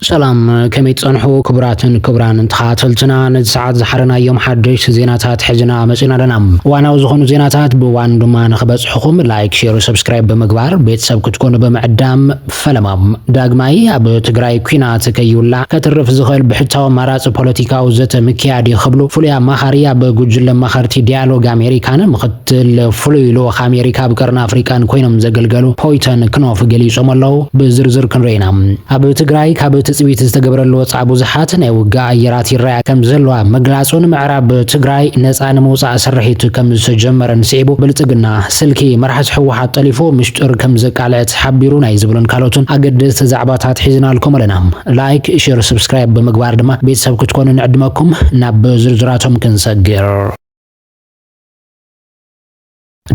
ሰላም ከመይ ትጸንሑ ክቡራትን ክቡራንን ተኸታተልትና፣ ነዚ ሰዓት ዝሓረናዮም ሓደሽቲ ዜናታት ሕዝና መጺና ኣለና። እዋናዊ ዝኾኑ ዜናታት ብእዋኑ ድማ ንኽበጽሕኹም ላይክ ሼር ሰብስክራይብ ብምግባር ቤተሰብ ክትኮኑ ብምዕዳም ፈለማ ዳግማይ ኣብ ትግራይ ኲናት ከይውላዕ ከትርፍ ዝኽእል ብሕታዊ ኣማራጺ ፖለቲካዊ ዘተ ምክያድ እዩ ክብሉ ፍሉይ ኣማኻሪ ኣብ ጉጅለ ኣማኸርቲ ዲያሎግ ኣሜሪካን ትል ፍሉይ ልኡኽ ኣሜሪካ ኣብ ቀርኒ ኣፍሪቃን ኮይኖም ዘገልገሉ ፖይተን ክኖፍ ገሊጾም ኣለው። ብዝርዝር ክንሪኦ ኢና። ኣብ ትግራይ ካብ ትጽቢት ዝተገብረሉ ወጻኢ ብዙሓት ናይ ውግእ ኣየራት ይረኣያ ከምዘለዋ ምግላጹን ምዕራብ ትግራይ ነጻ ንምውጻእ ስርሒት ከምዝተጀመረን ስዒቡ ብልጽግና ስልኪ መራሕቲ ህወሓት ጠሊፉ ምሽጥር ከምዘቃልዐት ሓቢሩ ናይ ዝብሉን ካልኦትን ኣገደስቲ ዛዕባታት ሒዝናልኩም ኣለና። ላይክ፣ ሼር፣ ስብስክራይብ ብምግባር ድማ ቤተሰብ ክትኮኑ ንዕድመኩም። ናብ ዝርዝራቶም ክንሰግር።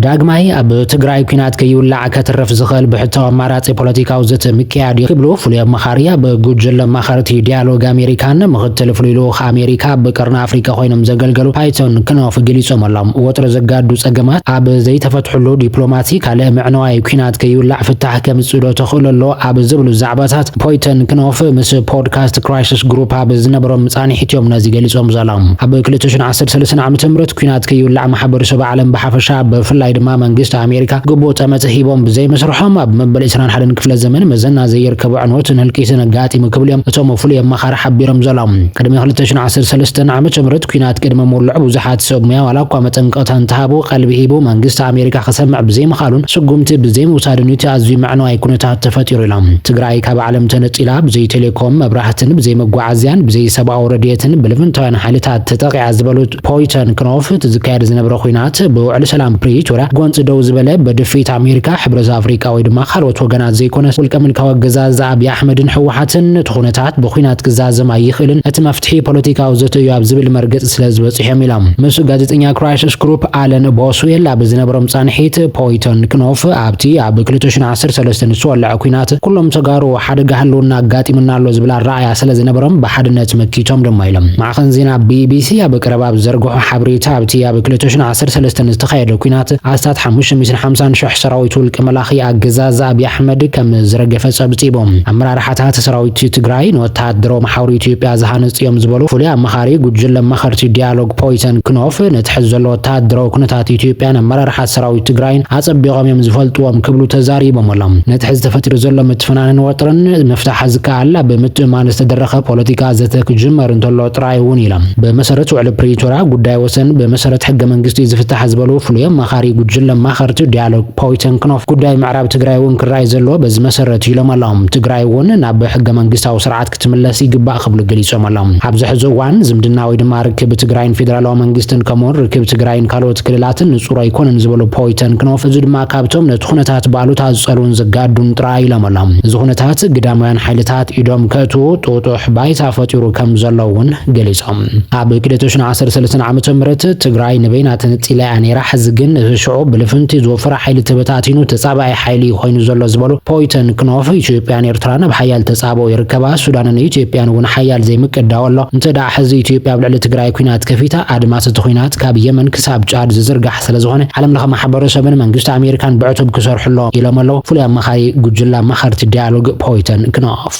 ዳግማይ ኣብ ትግራይ ኩናት ከይውላዕ ከትርፍ ዝኽእል ብሕታዊ ኣማራጺ ፖለቲካዊ ዘተ ምክያድ እዩ ክብሉ ፍሉይ ኣማኻሪ ኣብ ጉጅለ ኣማኸርቲ ዲያሎግ ኣሜሪካን ምኽትል ፍሉይ ልኡኽ ኣሜሪካ ኣብ ቀርኒ ኣፍሪካ ኮይኖም ዘገልገሉ ፓይቶን ክኖፍ ገሊፆም ኣሎም። ወጥሪ ዘጋዱ ፀገማት ኣብ ዘይተፈትሕሉ ዲፕሎማሲ ካልእ ምዕነዋይ ኩናት ከይውላዕ ፍታሕ ከምፅእ ዶ ተኽእሎ ኣሎ ኣብ ዝብሉ ዛዕባታት ፖይተን ክኖፍ ምስ ፖድካስት ክራይሲስ ግሩፕ ኣብ ዝነበሮም መጻኒሒት እዮም ነዚ ገሊጾም ዘሎም። ኣብ ክልተ ሽሕን ዓሰርተ ሰለስተን ዓመተ ምህረት ኩናት ከይውላዕ ማሕበርሰብ ዓለም ብሓፈሻ ብፍላይ ድማ መንግስቲ ኣሜሪካ ግቡእ ጠመተ ሂቦም ብዘይመስርሖም ኣብ መበል ዕስራን ሓደን ክፍለ ዘመን መዘና ዘይርከቦ ዕንወትን ህልቂትን ኣጋጢሙ ክብሉ እዮም እቶም ፍሉይ ኣማኻሪ ሓቢሮም ዘሎም። ቅድሚ ክልተ ሽሕን ዓሰርተ ሰለስተን ዓመተ ምህረት ኩናት ቅድሚ ምውልዑ ብዙሓት ሰብ ሙያ ዋላ እኳ መጠንቀቕታ እንተሃቡ ቀልቢ ሂቡ መንግስቲ ኣሜሪካ ክሰምዕ ብዘይምኽኣሉን ስጉምቲ ብዘይምውሳዱን እዩ እቲ ኣዝዩ መዕነዋይ ኩነታት ተፈጢሩ ኣመሪካ፣ ትግራይ ካብ ዓለም ተነጺላ ብዘይ ቴሌኮም፣ መብራህትን፣ ብዘይ መጓዓዝያን፣ ብዘይ ሰብኣዊ ረድኤትን ብልፍንታውያን ሓይልታት ተጠቒዓ ዝበሉት ፖይተን ክኖፍ፣ እቲ ዝካየድ ዝነበረ ኹናት ብውዕሊ ሰላም ፕሪቶርያ ጎንጺ ደው ዝበለ በድፍኢት ኣሜሪካ፣ ሕብረት ኣፍሪቃ ወይ ድማ ካልኦት ወገናት ዘይኮነስ ውልቀ ምልካዊ ኣገዛዝኣ ኣብዪ ኣሕመድን ህወሓትን እቲ ኹነታት ብኹናት ክዛዘም ኣይኽእልን፣ እቲ መፍትሒ ፖለቲካዊ ዘተ እዩ ኣብ ዝብል መርገጺ ስለ ዝበጽሖም ኢሎም። ምስ ጋዜጠኛ ክራይስስ ግሩፕ ኣለን ቦስዌል ኣብ ዝነበሮም ጻንሒት ፖይተን ክኖፍ ኣብቲ ኣብ ክልተ ሽሕ ዓሰርተ ሰለስተ ንዝተወለዐ ኲናት ኩሎም ተጋሩ ሓደጋ ህልውና ኣጋጢሙና ኣሎ ዝብል ኣረኣእያ ስለዝነበሮም ብሓድነት መኪቶም ድማ ኢሎም። ማዕኸን ዜና ቢቢሲ ኣብ ቀረባ ኣብ ዝዘርግሖ ሓበሬታ ኣብቲ ኣብ ክልተ ሽሕን ዓሰርተ ሰለስተን ዝተኻየደ ኲናት ኣስታት ሓሙሽተ ሚእትን ሓምሳን ሽሕ ሰራዊት ውልቀ መላኺ ኣገዛዝ ኣብይ ኣሕመድ ከምዝረገፈ ጸብጺቡ። ኣመራርሓታት ሰራዊት ትግራይ ንወተሃደራዊ መሓውር ኢትዮጵያ ዝሃንጽ እዮም ዝበሉ ፍሉይ ኣማኻሪ ጉጅለ ኣማኸርቲ ዲያሎግ ፖይተን ክኖፍ ነቲ ሕዚ ዘሎ ወተሃደራዊ ኩነታት ኢትዮጵያን ኣመራርሓ ሰራዊት ትግራይን ኣፀቢቖም እዮም ዝፈልጥዎም ክብሉ ተዛሪቦም ኣሎም። ነቲ ሕዚ ተፈጢሩ ዘሎ ምትፍናንን ወጥርን ምፍታሕ ዝከኣል ኣብ ምትእምማን ዝተደረኸ ፖለቲካ ዘተ ክጅመር እንተሎ ጥራይ እውን ኢሎም። ብመሰረት ውዕሊ ፕሪቶርያ ጉዳይ ወሰን ብመሰረት ሕገ መንግስቲ እዩ ዝፍታሕ ዝበሉ ፍሉይ ኣማኻሪ ጉጅለ ኣማኸርቲ ዲያሎግ ፖይተን ክኖፍ ጉዳይ ምዕራብ ትግራይ እውን ክረኣይ ዘለዎ በዚ መሰረት እዩ ኢሎም ኣሎም። ትግራይ እውን ናብ ሕገ መንግስታዊ ስርዓት ክትምለስ ይግባእ ክብሉ ገሊፆም ኣሎም። ኣብዚ ሕዚ እዋን ዝምድና ወይ ድማ ርክብ ትግራይን ፌዴራላዊ መንግስትን ከምኡ ውን ርክብ ትግራይን ካልኦት ክልላትን ንፁር ኣይኮነን ዝበሉ ፖይተንክኖፍ እዚ ድማ ካብቶም ነቲ ኩነታት ብኣሉታ ዝፀልዉን ዘጋዱን ጥራይ ኢሎም ኣሎም። እዚ ኩነታት ግዳማውያን ሓይልታት ኢዶም ከእትዉ ጥጡሕ ባይታ ፈጢሩ ከምዘሎ ውን ገሊፆም። ኣብ ክልተ ሽሕን ዓሰርተ ሰለስተን ዓመተ ምህረት ትግራይ ንበይና ተነፂላ እያ ነይራ ሕዚ ግን እቲ ሽዑ ብልፍንቲ ዝወፈረ ሓይሊ ተበታቲኑ ተፃባኢ ሓይሊ እዩ ኮይኑ ዘሎ ዝበሉ ፖይተንክኖፍ ኢትዮጵያን ኤርትራን ኣብ ሓያል ኣበው ይርከባ ሱዳንን ኢትዮጵያን እውን ሓያል ዘይምቅዳው ኣሎ። እንተ ደኣ ሕዚ ኢትዮጵያ ኣብ ልዕሊ ትግራይ ኲናት ከፊታ፣ ኣድማስ እቲ ኲናት ካብ የመን ክሳብ ጫድ ዝዝርጋሕ ስለ ዝኾነ፣ ዓለም ለኸ ማሕበረሰብን መንግስቲ ኣሜሪካን ብዕቱብ ክሰርሑ ኣለዎም ኢሎም ኣለዉ ፍሉይ ኣማኻሪ ጉጅለ ኣማኸርቲ ዳያሎግ ፖይተን ክኖፍ።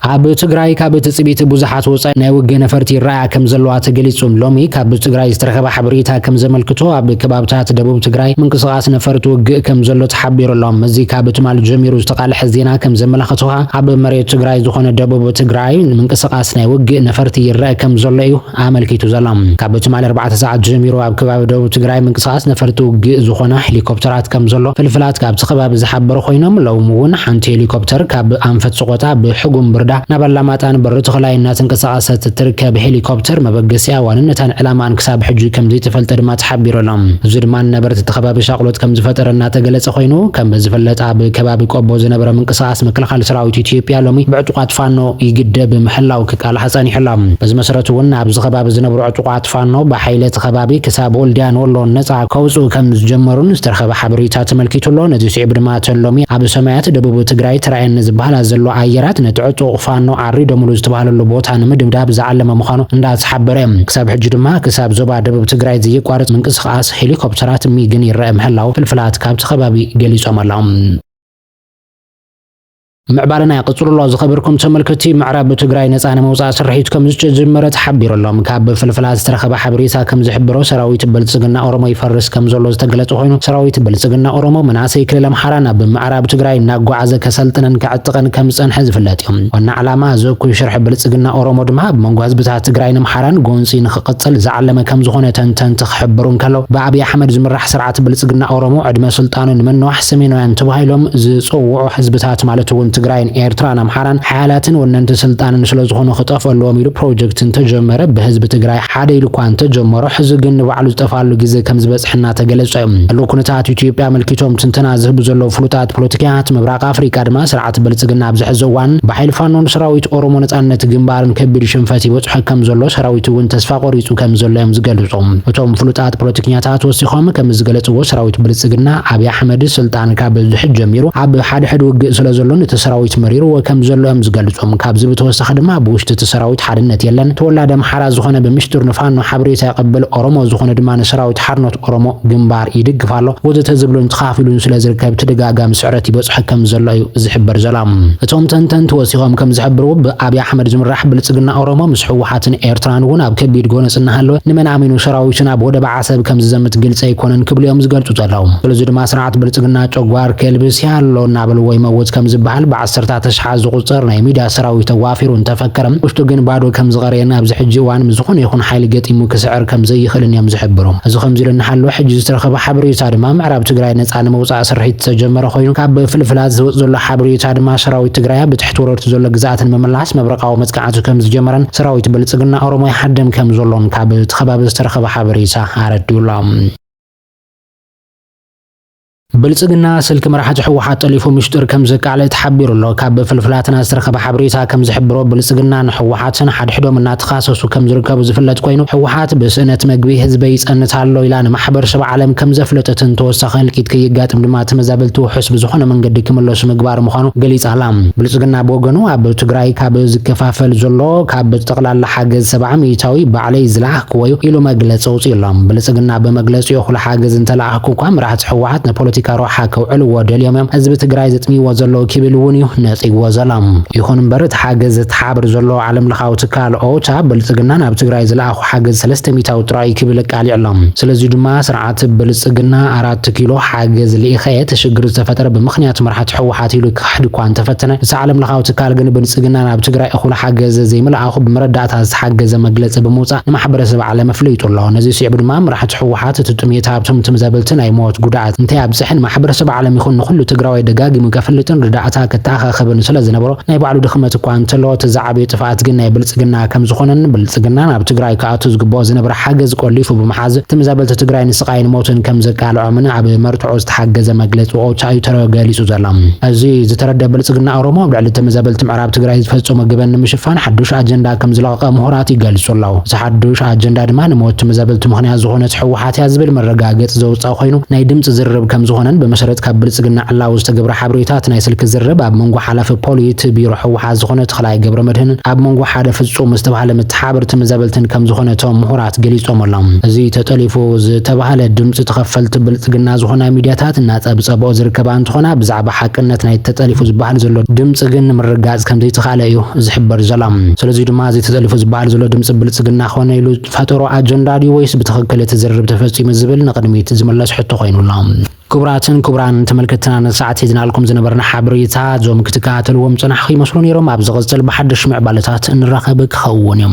ኣብ ትግራይ ካብ ትጽቢት ብዙሓት ወጻኢ ናይ ውግእ ነፈርቲ ይረኣያ ከም ዘለዋ ተገሊጹ። ሎሚ ካብ ትግራይ ዝተረኸበ ሓበሬታ ከም ዘመልክቶ ኣብ ከባብታት ደቡብ ትግራይ ምንቅስቓስ ነፈርቲ ውግእ ከም ዘሎ ተሓቢሩ ኣሎ። እዚ ካብ ትማሊ ጀሚሩ ዝተቓልሐ ዜና ከም ዘመላኸቶ ከኣ ኣብ መሬት ትግራይ ዝኾነ ደቡብ ትግራይ ምንቅስቓስ ናይ ውግእ ነፈርቲ ይረኣ ከም ዘሎ እዩ ኣመልኪቱ ዘሎ። ካብ ትማሊ ኣርባዕተ ሰዓት ጀሚሩ ኣብ ከባቢ ደቡብ ትግራይ ምንቅስቓስ ነፈርቲ ውግእ ዝኾና ሄሊኮፕተራት ከምዘሎ ፍልፍላት ካብቲ ከባቢ ዝሓበሩ ኮይኖም፣ ሎሚ እውን ሓንቲ ሄሊኮፕተር ካብ ኣንፈት ሰቖጣ ብሕጉም ብርዳ ናብ ኣላማጣን በሪ ተኽላይ እናተንቀሳቐሰት እትርከብ ሄሊኮፕተር መበገሲኣ፣ ዋንነታን ዕላማኣን ክሳብ ሕጂ ከምዘይተፈልጠ ድማ ተሓቢሩ ኣሎ። እዚ ድማ ንነበርቲ እቲ ከባቢ ሻቕሎት ከምዝፈጠረ እናተገለፀ ኮይኑ፣ ከም ዝፍለጥ ኣብ ከባቢ ቆቦ ዝነበረ ምንቅስቓስ ምክልኻል ሰራዊት ኢትዮጵያ ሎሚ ብዕጡቓት ፋኖ ይግደብ ምህላዉ ክቃልሓ ጸኒሑ'ሎ። በዚ መሰረት'ውን ኣብዚ ከባቢ ዝነብሩ ዕጡቓት ፋኖ ብሓይሊ እቲ ከባቢ ክሳብ ወልድያን ወሎን ነጻ ከውጽኡ ከም ዝጀመሩን ዝተረኸበ ሓበሬታ ተመልኪቱ'ሎ። ነዚ ስዒቡ ድማ እተን ሎሚ ኣብ ሰማያት ደቡብ ትግራይ ተራእየኒ ዝበሃላ ዘለዋ ኣየራት ነቲ ዕጡቕ ፋኖ ዓሪዶምሉ ዝተባህለሉ ቦታ ንምድብዳብ ዝዓለመ ምዃኑ እንዳተሓበረ ክሳብ ሕጂ ድማ ክሳብ ዞባ ደቡብ ትግራይ ዘየቋርጽ ምንቅስቓስ ሄሊኮፕተራት ሚግን ይረኣ ምህላው ፍልፍላት ካብቲ ከባቢ ገሊጾም'ሎ። ምዕባለና ቀጽሉሎ ዝኸበርኩም ተመልከቲ ምዕራብ ትግራይ ነፃ ንምውፃእ ስርሒት ከም ዝተጀመረ ተሓቢሩሎም ካብ ፍልፍላት ዝተረኸበ ሓበሬታ ከም ዝሕብሮ ሰራዊት ብልፅግና ኦሮሞ ይፈርስ ከም ዘሎ ዝተገለፀ ኮይኑ ሰራዊት ብልፅግና ኦሮሞ መናእሰይ ክልል ኣምሓራ ናብ ምዕራብ ትግራይ እናጓዓዘ ከሰልጥንን ከዕጥቕን ከም ዝፀንሐ ዝፍለጥ እዩ ዋና ዕላማ እዚ እኩይ ሽርሒ ብልፅግና ኦሮሞ ድማ ኣብ መንጎ ህዝብታት ትግራይን ኣምሓራን ጎንፂ ንክቕፅል ዝዓለመ ከም ዝኾነ ተንተንቲ ክሕብሩ እንከለው ብኣብይ ኣሕመድ ዝምራሕ ስርዓት ብልፅግና ኦሮሞ ዕድመ ስልጣኑ ንመነዋሕ ሰሜናውያን ተባሂሎም ዝጽውዑ ህዝብታት ማለት እውን ትግራይን ኤርትራን ኣምሓራን ሓያላትን ወነንቲ ስልጣንን ስለዝኾኑ ክጠፍኡ ኣለዎም ኢሉ ፕሮጀክት እንተጀመረ ብህዝቢ ትግራይ ሓደ ኢሉ እኳ እንተጀመሮ ሕዚ ግን ንባዕሉ ዝጠፍኣሉ ግዜ ከምዝበፅሐ እናተገለፀ ዘሎ ኩነታት ኢትዮጵያ ኣመልኪቶም ትንተና ዝህቡ ዘለዉ ፍሉጣት ፖለቲከኛታት ምብራቕ ኣፍሪቃ ድማ እቲ ብልፅግና ኣብዚ ሕዚ እዋን ብሓይሊ ፋኖን ሰራዊት ኦሮሞ ነፃነት ግንባርን ከቢድ ሽንፈት ይበፅሖ ከምዘሎ ሰራዊቱ እውን ተስፋ ቆሪፁ ከምዘሎ እዮም ዝገልፁ። እቶም ፍሉጣት ፖለቲከኛታት ወሲኾም ከምዝገለፅዎ ሰራዊት ብልፅግና ኣብይ ኣሕመድ ስልጣን ካብ ዝሕዝ ጀሚሩ ኣብ ሓድሕድ ውግእ ስለዘሎ ነቲ ሰራዊት መሪርዎ ከምዘሎ እዮም ዝገልፁ። ካብዚ ብተወሳኺ ድማ ብውሽጢ እቲ ሰራዊት ሓድነት የለን፣ ተወላዲ ኣምሓራ ዝኾነ ብምሽጥር ንፋኖ ሓበሬታ የቐብል፣ ኦሮሞ ዝኾነ ድማ ንሰራዊት ሓርነት ኦሮሞ ግንባር፣ ይድግፍ ኣሎ ወዘተ ዝብሉን ተኻፊሉን ስለ ዝርከብ ተደጋጋሚ ስዕረት ይበጽሖ ከም ዘሎ እዩ ዝሕበር ዘሎ። እቶም ተንተንቲ ወሲኾም ከም ዝሕብርዎ ብኣብይ ኣሕመድ ዝምራሕ ብልጽግና ኦሮሞ ምስ ህወሓትን ኤርትራን እውን ኣብ ከቢድ ጎነጽ እናሃለወ ንመን ኣሚኑ ሰራዊቱ ናብ ወደብ ዓሰብ ከም ዝዘምት ግልጺ ኣይኮነን ክብሉ እዮም ዝገልጹ ዘለዉ። ስለዚ ድማ ስርዓት ብልጽግና ጨጓር ከልብስ ያሎ እናበልዎ ይመውት ከም ዝበሃል ዓሰርታት ኣሽሓት ዝቑጸር ናይ ሚድያ ሰራዊት ተዋፊሩ እንተፈከረ፣ ውሽጡ ግን ባዶ ከምዝቐረየን ኣብዚ ሕጂ እዋን ምስ ዝኾነ ይኹን ሓይሊ ገጢሙ ክስዕር ከምዘይኽእልን እዮም ዝሕብሩ። እዚ ከምዚ ኢሉ እናሃለወ ሕጂ ዝተረኸበ ሓበሬታ ድማ ምዕራብ ትግራይ ነጻ ንምውጻእ ስርሒት ዝተጀመረ ኮይኑ ካብ ፍልፍላት ዝወጽእ ዘሎ ሓበሬታ ድማ ሰራዊት ትግራይ ኣብ ትሕቲ ወረርቲ ዘሎ ግዝኣት ንምምላስ መብረቓዊ መጥቃዕቲ ከምዝጀመረን ሰራዊት ብልጽግና ኦሮሞ ይሃድም ከምዘሎን ካብ እቲ ከባቢ ዝተረኸበ ሓበሬታ ኣረዲኡ ኣሎ። ብልፅግና ስልኪ መራሕቲ ህወሓት ጠሊፉ ሚሽጥር ከምዘቃለዕ ተሓቢሩ'ሎ። ካብ ፍልፍላትና ዝተረኸበ ሓበሬታ ከምዝሕብሮ ብልፅግናን ህወሓትን ሓድሕዶም እናተኻሰሱ ከምዝርከቡ ዝፍለጥ ኮይኑ ህወሓት ብስእነት መግቢ ህዝበይ ይፀንት ኣሎ ኢላ ንማሕበርሰብ ዓለም ከምዘፍለጠትን ተወሳኺ ህልቂት ከየጋጥም ድማ ተመዛበልቲ ውሑስ ብዝኾነ መንገዲ ክምለሱ ምግባር ምዃኑ ገሊፃ'ላ። ብልፅግና ብወገኑ ኣብ ትግራይ ካብ ዝከፋፈል ዘሎ ካብ ጠቕላላ ሓገዝ ሰብዓ ሚኢታዊ ባዕለይ ዝለኣኽክዎ'ዩ ኢሉ መግለፂ ኣውፂኡ'ሎ። ብልፅግና ብመግለፂኡ እኹል ሓገዝ እንተለኣኸ፣ እኳ መራሕቲ ህወሓት ንፖለቲካ ረብሓ ከውዕልዎ ደልዮም እዮም ህዝቢ ትግራይ ዘጥምይዎ ዘለዉ ክብል እውን እዩ ነፂግዎ ዘሎ። ይኹን እምበር እቲ ሓገዝ ዘተሓባብር ዘሎ ዓለም ለኻዊ ትካል ኦቻ ብልፅግና ናብ ትግራይ ዝለኣኾ ሓገዝ ሰለስተ ሚታዊ ጥራይ እዩ ክብል ኣቃሊዑ ኣሎ። ስለዙይ ድማ ስርዓት ብልፅግና ኣራት ኪሎ ሓገዝ ልኢኸ እየ እቲ ሽግር ዝተፈጠረ ብምኽንያት መራሕቲ ህወሓት ኢሉ ክኽሕድ እኳ እንተፈተነ እቲ ዓለም ለኻዊ ትካል ግን ብልፅግና ናብ ትግራይ እኹል ሓገዝ ዘይምልኣኹ ብመረዳእታ ዝተሓገዘ መግለፂ ብምውፃእ ንማሕበረሰብ ዓለም ኣፍሊጡ ኣሎ። ነዙይ ስዒቡ ድማ መራሕቲ ሕወሓት እቲ ጥምየት ሃብቶም ትም ዘብል እቲ ናይ ሞት ጉድኣት እንታይ ኣብፀሐ ንማሕበረሰብ ዓለም ይኹን ንኹሉ ትግራዋይ ደጋጊሙ ከፍልጥን ርዳእታ ከተኣኻኽብን ስለዝነበሮ ናይ ባዕሉ ድኽመት እኳ እንተለዎ እቲ ዝዓበየ ጥፍኣት ግን ናይ ብልፅግና ከምዝኾነን ብልፅግና ናብ ትግራይ ክኣቱ ዝግበኦ ዝነበረ ሓገዝ ቆሊፉ ብምሓዝ ትም ዘበልቲ ትግራይ ንስቓይን ሞትን ከምዘቃልዖምን ኣብ መርትዖ ዝተሓገዘ መግለፂ ወኡታኡ ተረገሊፁ ዘሎ። እዚ ዝተረደእ ብልፅግና ኦሮሞ ኣብ ልዕሊ ትም ዘበልቲ ምዕራባውያን ኣብ ትግራይ ዝፈፀሞ ገበን ንምሽፋን ሓዱሽ ኣጀንዳ ከምዝለቐቐ ምሁራት ይገልፁ ኣለው። እዚ ሓዱሽ ኣጀንዳ ድማ ንሞት ትምዘበልቲ ምኽንያት ዝኾነት ህወሓት እያ ዝብል መረጋገፂ ዘውፀኣ ኮይኑ ናይ ድምፂ ዝርርብ ከምዝኾነን ብመሰረት ካብ ብልፅግና ዕላዊ ዝተገብረ ሓበሬታ እቲ ናይ ስልኪ ዝርርብ ኣብ መንጎ ሓላፊ ፖሊት ቢሮ ህወሓት ዝኾነ ተኽላይ ገብረመድህንን ኣብ መንጎ ሓደ ፍፁም ዝተብሃለ መተሓብር ትምዘበልትን ከምዝኾነ እቶም ምሁራት ገሊፆም ኣለው። እዚ ተጠሊፉ ዝተብሃለ ድምፂ ተኸፈልቲ ብልፅግና ዝኾና ሚድያታት እናፀብፀበኦ ዝርከባ እንትኾና ብዛዕባ ሓቅነት ናይቲ ተጠሊፉ ዝበሃል ዘሎ ድምጺ ግን ንምርግጋጽ ከም ዘይተኻእለ እዩ ዝሕበር ዘሎ። ስለዙይ ድማ እዚ ተጠሊፉ ዝበሃል ዘሎ ድምጺ ብልጽግና ኮነ ኢሉ ዝፈጠሮ ኣጀንዳ ድዩ ወይስ ብትኽክል እቲ ዝርርብ ተፈጺሙ ዝብል ንቕድሚት ዝምለስ ሕቶ ኮይኑ ኣሎ። ክቡራትን ክቡራን ተመልከትትና ንሰዓት ሒዝናልኩም ዝነበርና ሓበሬታ እዞም ክትከታተልዎም ዝጸናሕኹ ይመስሉ ነይሮም። ኣብ ዝቕጽል ብሓድሽ ምዕባለታት እንራኸብ ክኸውን እዩ።